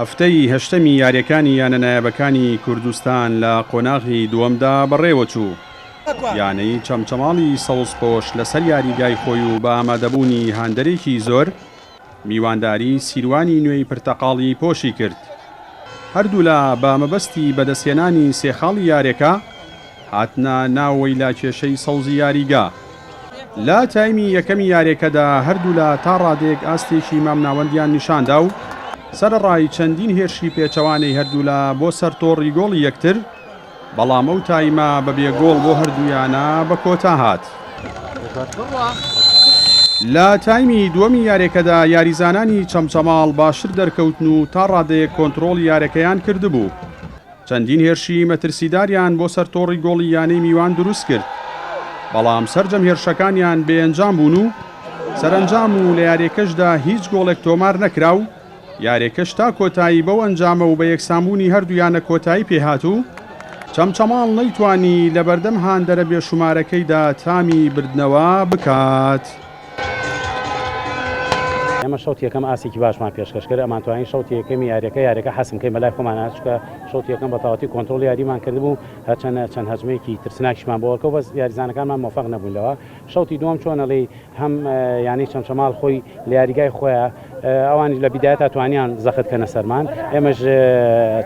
هەفتەی هەشتەمی یارییەکانی یانە نایابەکانی کوردستان لە قۆناغی دووەمدا بەڕێوەچوو، یانەی چەمچەماڵی سەوزپۆش لەسەر یاریگای خۆی و بە ئامادەبوونی هاندەرێکی زۆر، میوانداری سیروانی نوێی پرتەقاڵی پۆشی کرد، هەردوولا بە مەبەستی بەدەستهێنانی سێ خاڵی یارییەکە، هاتنە ناوەوەی لە کێشەی سەوزی یاریگا. لە تایمی یەکەمی یاریەکەدا هەردوولا تا ڕادەیەک ئاستێکی مامناوەندیان نیشاندا و سەرەڕای چەندین هێرشی پێچەوانەی هەردوولا بۆ سەر تۆڕی گۆڵی یەکتر، بەڵام ئەو تایمە بە بێ گۆڵ بۆ هەردوویانە بە کۆتا هات. لە تایمی دووەمی یاریەکەدا یاریزانانی چەمچەماڵ باشتر دەرکەوتن و تا ڕادەیەک کۆنترۆڵی یارەکەیان کردبوو. چەندین هێرشی مەترسیداریان بۆ سەر تۆڕی گۆڵی یانەی میوان دروستکرد، بەڵام سەرجەم هێرشەکانیان بێئەنجام بوون و سەرەنجام و لە یارییەکەشدا هیچ گۆڵێک تۆمار نەکرا و یارییەکەش تا کۆتایی بەو ئەنجامە و بە یەکسانبوونی هەردوو یانە کۆتایی پێهات و چەمچەماڵ نەیتوانی لەبەردەم هاندەرە بێشومارەکەیدا تامی بردنەوە بکات. ئێمە شەوتی یەکەم ئاستێکی باشمان پێشکەش کرد، ئەمانتوانی شەوتی یەکەمی یاریەکە یاریەکە حەسم بکەین بەلای خۆمانە، چونکە شەوتی یەکەم بەتەواوەتی کۆنترۆڵی یاریمان کردبوو، هەرچەندە چەند هەجمەیەکی ترسناکیشمان بۆ وەرکەوت، بەس یاریزانەکانمان مۆفەق نەبوون لەوە. شەوتی دووەم چۆنە لێی هەم یانەی چەمچەماڵ خۆی لە یاریگای خۆیا، ئەوانیش لە بیدایەتا توانیان زەخت کەنە سەرمان ئێمەش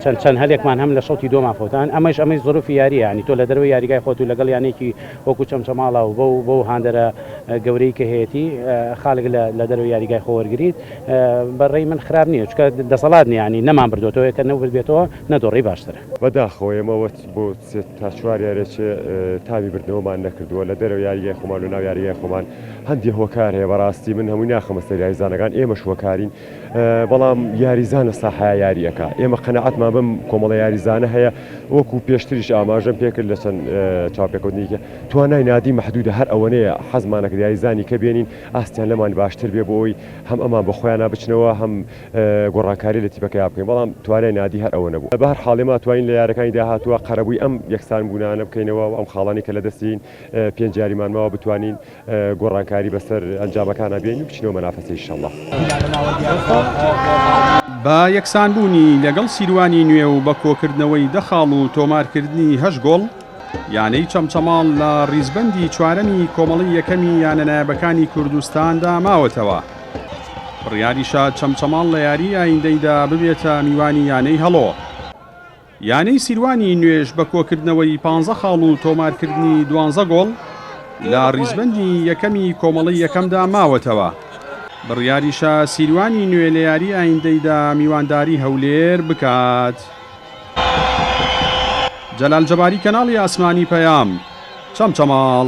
چەند چەند هەلێکمان هەم لە شەوتی دۆمان فەوتان ئەمەش ئەمەی زۆرفی یاریە ینی تۆ لە دەروی یاریگای خۆت و لەگەڵ یانێکی وەکو چەمچەماڵا و بەو بەو هاندەرە گەورەی کە هەیەی خاڵک لە لە دەروی یاریگای خۆ وەرگیت بەڕێی من خراپ نییە چکە دەسەڵات نیانی نەمان بردوێتەوە کە نەورد بێتەوە نەدۆڕی باشترە. بە داخەوە ئێمە وەت بۆ سێ تا چوار یاریە چێ تامی بردنەوەمان نەکردووە لە دەرەوە یاریگای خۆمان لە ناو یاریگای خۆمان هەندێ هۆکار هەیە بەڕاستی من هەمووی ناخەمە سەر یاریزانەکان ئێمەش هۆکارین بەڵام یاریزان لە ساحەیە یاری ئەکا ئێمە قەنەعەتمان بەم کۆمەڵە یاریزانە هەیە وەکو پێشتریش ئاماژەم پێکرد لە چەند چاپێکوتنیکە توانای نادی محدودە هەر ئەوەنەیە حەزمانە کە یاریزانی کە بێنین ئاستیان لەمان باشتر بێ بۆ ئەوی هەم ئەمان بە خۆیان بچنەوە هەم گۆڕانکاری لە تیپەکەیا بکەین بەڵام توانای نادی هەر ئەوە نەبوو بە هەر حاڵێ ما توانین لە یارەکانی داهاتوە قەرەبووی ئەم یەکسان بوونانە بکەینەوە و ئەم خاڵانی کە لە دەستین پێنج یاریمان ماوە بتوانین گۆڕانکاری بەسەر ئەنجامەکانا بێنین و بچینەوە مەنافەسە ئیشەڵا. بە یەکسانبوونی لەگەڵ سیروانی نوێ و بە کۆکردنەوەی دە خاڵ و تۆمارکردنی هەشت گۆڵ، یانەی چەمچەماڵ لە ریزبەندی چوارەمی کۆمەڵەی یەکەمی یانە نایابەکانی کوردستاندا ماوەتەوە. بڕیاریشە چەمچەماڵ لە یاریی ئایندەیدا ببێتە میوانی یانەی هەڵۆ. یانەی سیروانی نوێژ بە کۆکردنەوەی پانزە خاڵ و تۆمارکردنی دوانزە گۆڵ، لە ریزبەندی یەکەمی کۆمەڵەی یەکەمدا ماوەتەوە، بڕیاریشە سیروانی نوێ لە یاری ئایندەیدا میوانداری هەولێر بکات. جەلال جەباری کەناڵی ئاسمانی پەیام چەمچەماڵ.